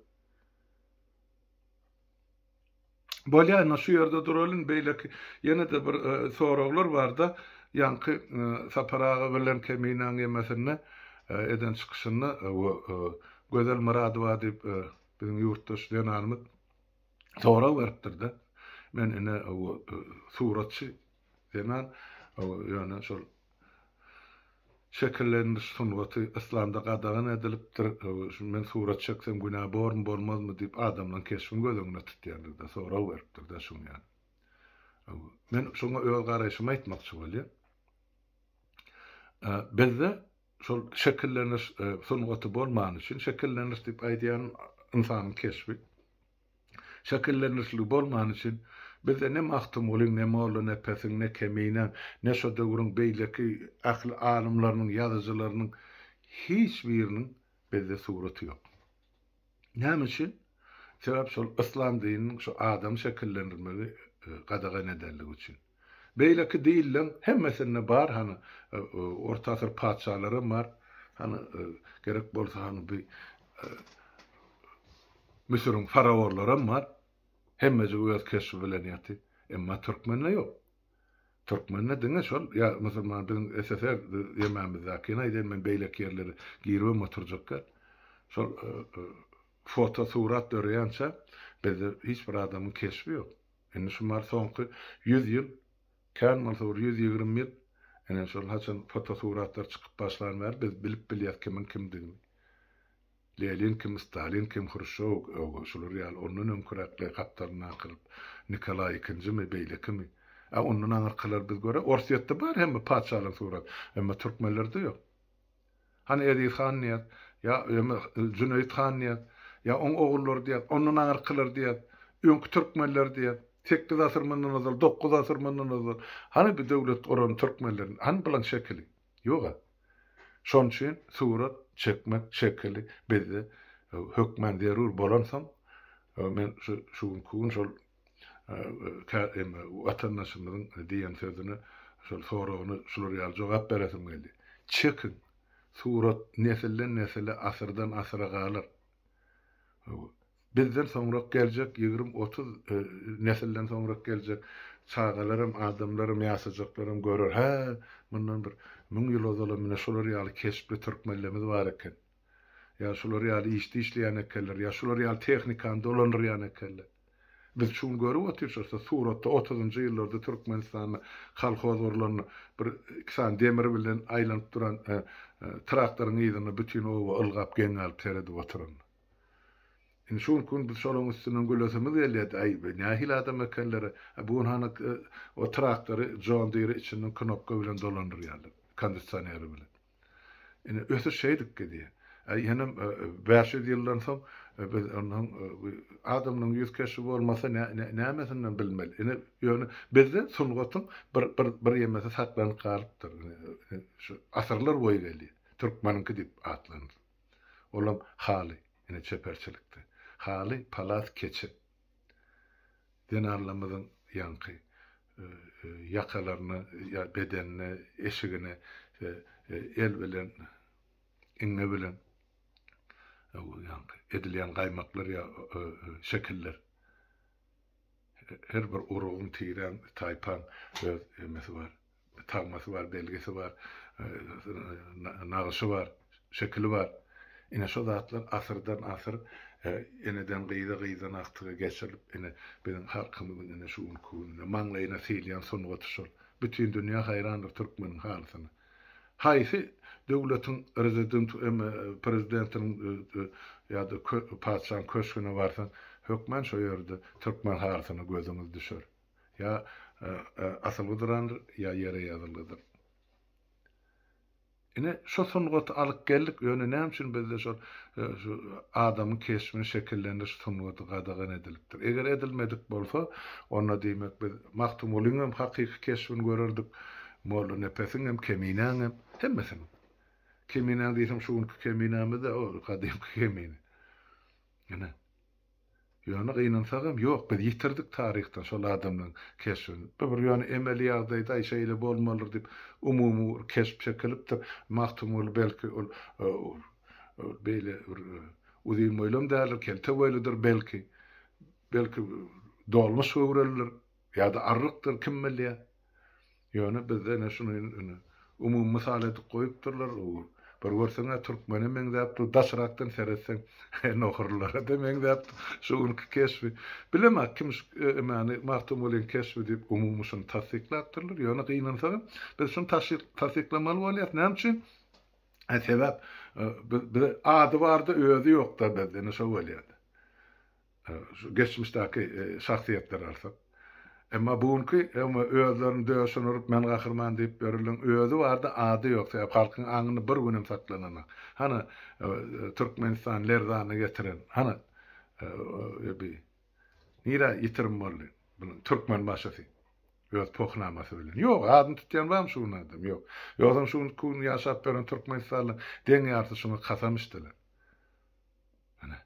Bolýa indi şu ýerde duralyň beýleki ýene-de bir e, soraglar barda ýaňky e, Sapar aga bilen Keminäň ýemesinde e, eden çykyşynda e, gözel Myradowa diýip e, Biziň ýurtdaş zenanymyz sorag beripdir-de, men ine o suratçy zenan, ýöne şol şekillendiriş sungaty yslamda gadagan edilipdir, şu men surat çeksem günä bormy, bolmazmy diýip adamlaryň keşbini göz öňünde tutýandygy-da sorag beripdir-de şuň ýaly. Men şoňa öz garaýşymy aýtmakçy bolýan. Bizde Şol şekilleniş sungaty bolmany üçin, şekilleniş diýip aýdýanym ynsanyň keşbi. Şekillenişligi bolmany üçin bizde ne Magtymgulyň, ne Molla Nepesiň, ne Keminäň, ne şo döwrüň beýleki ähli alymlarynyň, ýazyjylarynyň hiç biriniň bizde suraty ýok. Näme üçin? Sebäp şol yslam dininiň şu adamy şekillendirmegi gadagan edendigi üçin. Beýleki dinleň hemmesinde bar hany orta asyr patyşalaram bar hany gerek bolsa hany bi Müsüriň faraorlaram bar hemmejigi öz keşbi bilen ýaty emma türkmende ýok. Türkmende diňe şol ýa musulmandygyň SSR ýemamizdäkini aýdaýyn men beýleki ýerlere giribem oturjakka şol foto surat döreýänçä bizde hiç bir adamyň keşbi ýok. Indi şu bar soňky ýüz ýyl kän bolsa bir ýüz ýigrimi ýyl ine şol haçan foto suratlar çykyp başlan bäri biz bilip bilýäs kimiň kimdigini. Lenin kim, Stalin kim, Hruşşow, ög, şular ýaly, ondan öňküräkler gapdalyny akyryp, Nikolaý ikinjimi, beýlekimi. Ä, ondan aňyrkylar biz görä, Orsýetde bar hemme patyşalaryň surat, emma türkmenlerde ýok. Hany Eziz Hannyýaz, ýa, ýa-da Jüneýit Hannyýaz, ýa oň ogullary diýýäs, ondan aňyrkylar diýýäs, öňki türkmenler diýýäs, sekiz asyr mundan ozal, dokuz asyr mundan ozal. Hany bu döwlet guran türkmenleriň, hany bulaň şekili? Ýog-a. Şon üçin surat çekmek şekili bizde hökmän zerur bolansoň, men şu günki gün şol watandaşymyzyň diýen sözüne, şol soragyna şular ýaly jogap beresim geldi. Çekiň! Surat nesilden-nesile, asyrdan-asyra galar. Bizden soňrak geljek ýigrimi-otuz nesilden soňrak geljek çagalaram, adamlaram, ýaşajaklaram görer, Hä, mundan bir müň ýyl ozalam ine şular ýaly keşpli türkmenlerimiz bar eken. Ýa şular ýaly işde işleýän ekenler, ýa şular ýaly tehnikany dolandyrýan ekenler. Biz şu gün görüp oturşyrys-a suratda otuzynjy ýyllarda Türkmenistanda kolhoz gurlanda bir iki sany demir bilen aýlanyp duran traktoryň yzyna bütin oba ylgap geň galyp seredip oturan. Indi şu günki gün biz şolaryň üstünden gülesimiz gelýärdi, Aý, bu nähili adam ekenler, a bu gün hany o traktory, John Deere içinden knopka bilen dolandyrýarlar, kondisioneri bilen. Indi ösüş şeýdip gidýär. Aý, inim, bäş ýüz ýyldan soň biz ondan soň bu adamlaryň ýüz keşbi bolmasa nä, nämesinden bilmeli. Ine, ýöne bizde sungatyň bir, bir, bir ýemesi saklanyp galypdyr. Ine, şu asyrlar boýy gelýär. Türkmeniňki diýip atlandy. Olam haly, ine çeperçilikde. Haly, palas, keçe. Zenanlarymyzyň ýaňky ýakalaryna, ýa bedenine, eşigine el bilen, iňňe bilen ýaňky edilýän gaýmaklar ýa şekiller. Her bir urugyň, tiräň, taýpaň öz emesi bar. Tagmasy bar, belgisi bar, nagyşy bar, şekili bar. Ine şo zatlar asyrdan asyr eneden gyza, gyzdan agtyga geçirilip ine biziň halkymyzyň ine şu günki gününe maňlaýyna sylýan sungaty şol. Bütin dünýä haýrandyr türkmeniň halysyna. Haýsy döwletiň rezidenti emme prezidentiniň ýa-da patyşaň köşgüne barsaň hökman şo ýerde türkmen halysyna gözüňiz düşer. Ýa asylgydyrandyr, ýa ýere ýazylgydyr. Ine, şu sungaty alyp geldik, ýöne näme üçin bizde şol adamyň keşbini şekillendiriş sungaty gadagan edilipdir? Eger edilmedik bolsa, onda diýmek biz Magtymgulynyň hem hakyky keşbini görerdik, Mollanepesiň hem, Keminäň hem, hemmesiniň. Keminäň diýseň şu günki Keminämiz-de, o gadymky Kemine. Ine. Ýöne gynansagam, ýok, biz ýitirdik taryhdan şol adamlaryň keşbini. Bu bir ýöne emeli ýagdaýda-aý şeýle bolmalydyr diýip, umumy bir keşp çekilipdir. Magtymguly belki ol beýle bir uzyn boýlam däldir, kelte boýludyr belki. Belki dolmuş göwrelidir ýa-da arrykdyr, kim bilýär. Ýöne bizde ene şuny ine umumy mysal edip goýupdyrlar ogur. Bir görseň-ä türkmene meňzäp dur, daşrakdan seretseň nohurlara-da meňzäp dur. Şu günki keşbi. Bilemok kim şu emani Magtymgulyň keşbi diýip umumy şuny tassyklapdyrlar. Ýöne gynansagam biz şuny taşsyk tassyklamaly bolýas. Näme üçin? Sebäp biz ady barda özi ýokda bizde ine şo bolýada. Şu geçmişdäki şahsyýetleri alsak. Emma bu günki öňe özlerini döşüne urup men gahryman diýip ýörülen özi bardy ady ýok sebäp halkyň aňynda bir günem saklananok. Hany Türkmenistan lerzana getiren hany öbi nirä ýitirim boldy bunuň türkmen başysy öz pohnamasy bilen. Ýok adyny tutýan barmy şu gün adam ýok. Ýogsam şu günki gün ýaşap ýören Türkmenistanlyň deň ýarysy şuňa kasam içdiler. Hany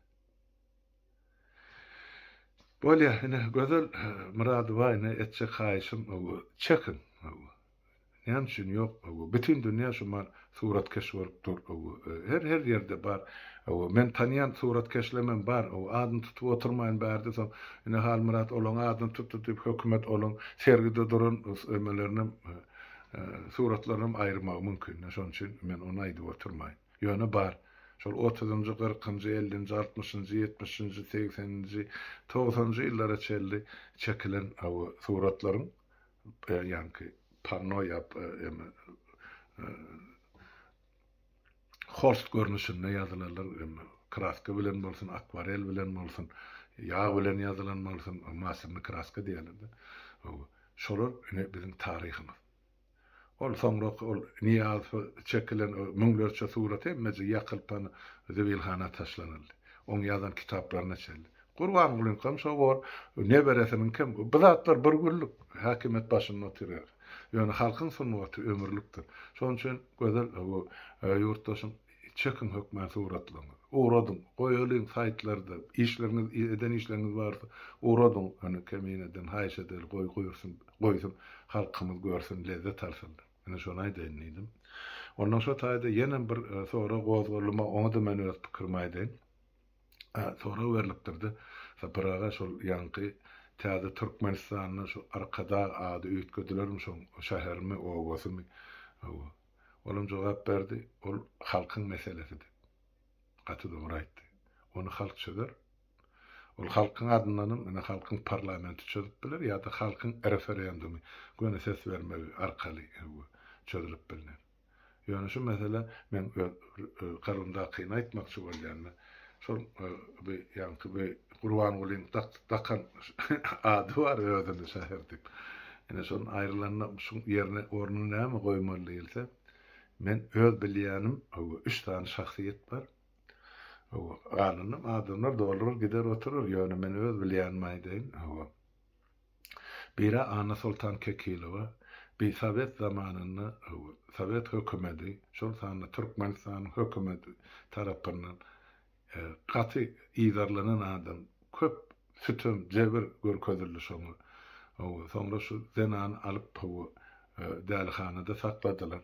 Bolýa ine Gözel Myradowa ine etjek haýyşym öwü çekiň öwü näme üçin ýok öwü bütin dünýä şuman suratkeş bolup dur öwü her her ýerde bar öwü men tanýan suratkeşlemem bar öwü adyny tutup oturmaýyn bärde soň ine Halmyrat olaň adyny tutdy diýip hökümet olaň sergide duran emelerinem suratlarynam aýyrmagy mümkin şonuň üçin men ony aýdyp oturmaýyn. Ýöne bar. Şol otuzynjy, kyrkynjy, ellinji, altmyşynjy, ýetmişinji, segseninji, togsanynjy ýyllara çenli çekilen bu suratlaryň ýaňky panno ýa ýa-da holst görnüşinde ýazylanlar kraska bilen bolsun, akwarel bilen bolsun, ýag bilen ýazylan bolsun, masterny kraska diýerler-de. Şolar ine biziň taryhymyz. Ol soňrak ol Nyýazowa çekilen o müňlerçe surat hemmeje ýakylypan zibilhana taşlanyldy. Oň ýazan kitaplaryna çenli. Gurbangulyňkam şo bor, neberesiniňkem. Bu zatlar bir günlik häkimiýet başynda oturýar. Ýöne halkyň sungaty ömürlikdir. Şonuň üçin Gözel bu ýurtdaşyň Çekiň hökmany suratlaryňyzy. Ugradyň. Goýalyň saýtlarda. Işleriňiz, eden işleriňiz barsa, ugradyň. Ony Kemineden haýyş edeli, goý guýursun, goýsun. Halkymyz görsün, lezzet alsyn. Ine şony aýdaýyn diýdim. Ondan şo taýda ýenem bir sorag gozgaldyma, oňa-da men öz pikirimi aýdaýyn. Sorag berlipdir-de, Sapar aga, şol ýaňky täze Türkmenistanda şu Arkadag ady üýtgedilermi, şoň şäherimi, obasymy? Olam jogap berdi, Ol halkyň meselesi diýip. Gaty dogry aýtdy. Ony halk çözer. Ol halkyň adyndanam, ine, halkyň parlamenti çözüp biler ýa-da halkyň referendumy, göni ses bermegi arkaly çözülip bilner. Ýöne şu mesele, men öz kalbymdakyny aýtmakçy bolýan, men Şol bi ýaňky bi Gurbangulyň dakan ady bar özüni şahyr diýip. Ine şonuň aýrylanda şuň ýerine ornuny näme goýmaly diýilse, men öz bilýänim owo üç sany şahsyýet bar. Owo galanam adamlar dolar gider oturar ýöne men öz bilýänimi aýdaýyn owo. Biri Annasoltan Kekilowa, bi sowet zamanynda sowet hökümeti, şol sanda Türkmenistanyň hökümeti tarapyndan gaty yzarlanan adam, köp sütem, jebir görkezildi şoňa. Soňra şu zenany alyp dälihanada sakladylar.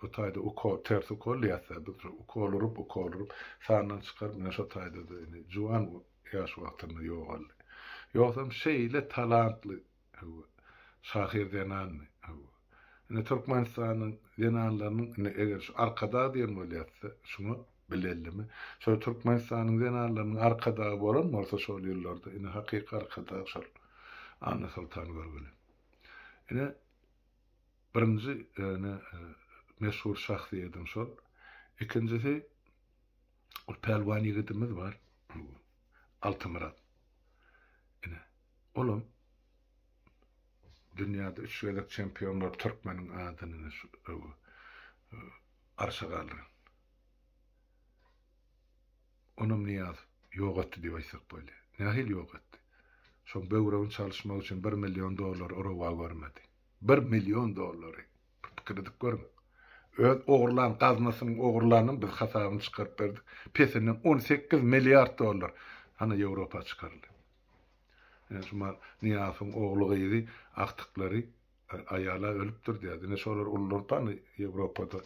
O taýda ukol, ters ukol diýýäs-dä biz şu, ukol urup, ukol urup, sandan çykaryp, ine şo taýda-da indi juwan ýaş wagtynda ýogaldy. Ýogsam şeýle talantly, hawa, şahyr zenandy, hawa. Ine Türkmenistanyň zenanlarynyň, indi eger şu Arkadag diýen bolýatsa, şuňa bilellimi, şol Türkmenistanyň zenanlarynyň Arkadagy bolan bolsa şol ýyllarda, ine hakyky Arkadag şol Annasoltangörgüli. Ine, Birinji ýöne meşhur şahsyýedim şol. Ikinjisi ol pälwan ýigidimiz bar. Altymyrat. Ine, olam dünýäde üç gezek çempion bolup türkmeniň adyny şu arşa galdyran. Onam Niýaz ýok etdi diýip aýtsak bolýar. Nähili ýok etdi? Şoň böwregini çalyşmak üçin bir million dollar uruba görmedi. Bir million dollary. Bir pikir edip görüň. Öz ogurlan gaznasynyň ogurlanyny biz hasabyny çykaryp berdik. Pesinden on sekiz milliard dollar hany Ýewropa çykaryldy. Ine şu mal Nyýazowyň ogly gyzy agtyklary aýala ölüpdir diýýär. Diňe şolar ulular pany Ýewropada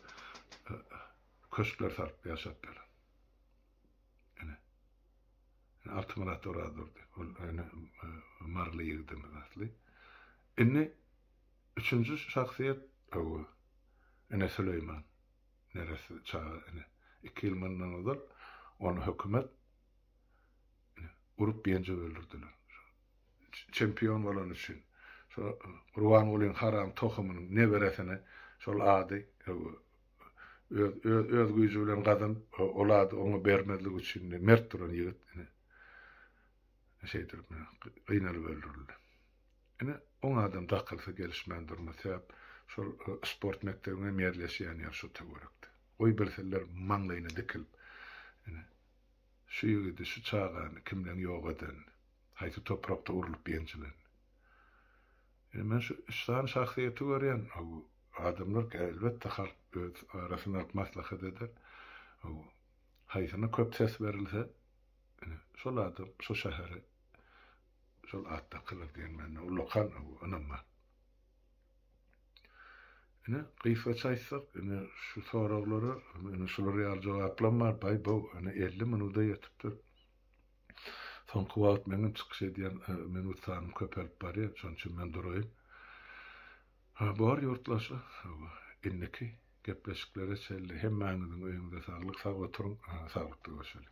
köşkler salyp ýaşap ýörler. Altymyrat Orazurdy. Ol ene maryly ýigidimiz asly. Indi üçünji şahsyýet, hawa, ene Süleýman, neresi çaga ene. Iki ýyl mundan ozal ony hökümet urup-ýenjip öldürdiler. Şo çempion bolany üçin. Şo Gurbangulyň haram tohumynyň neberesine şol ady, hawa, öz, öz, öz güýji bilen gazanyp, ol ady oňa bermezlik üçin mert duran ýigit ene şeýdilip, gynalyp öldürildi. Ine, on adam dakylsa gelişmän durmaz. Sebäp şol sport mekdebiň hem ýerleşýän ýeri şu töwerekde. Goý bilsinler maňlaýyna dikilip, ine, şu ýigidi, şu çagany kimleň ýok edenini, haýsy toprakda urlup ýenjilenini. Ine, men şu üç sany şahsyýeti görýän. Hawa, adamlar, elbetde, halk öz arasynda alyp maslahat eder. Hawa, haýsyna köp ses berilse, ine, şol adam şu şäheri Şol atda kylyk diýen mende ulakan ynam bar. Ine, gysgaça aýtsak, ine, şu soraglara, ine, şular ýaly jogaplam bar, baý-bow, ine, elli minuda ýetipdir. Soňky wagt meniň çykyş edýän minut sanym köpelip barýar, şonuň üçin men duraýyn. Ha, bor ýurtdaşlar, hawa, indiki gepleşiklere çenli hemmäňiziň öýüňize saglyk, sag oturyň, saglykda görşeliň!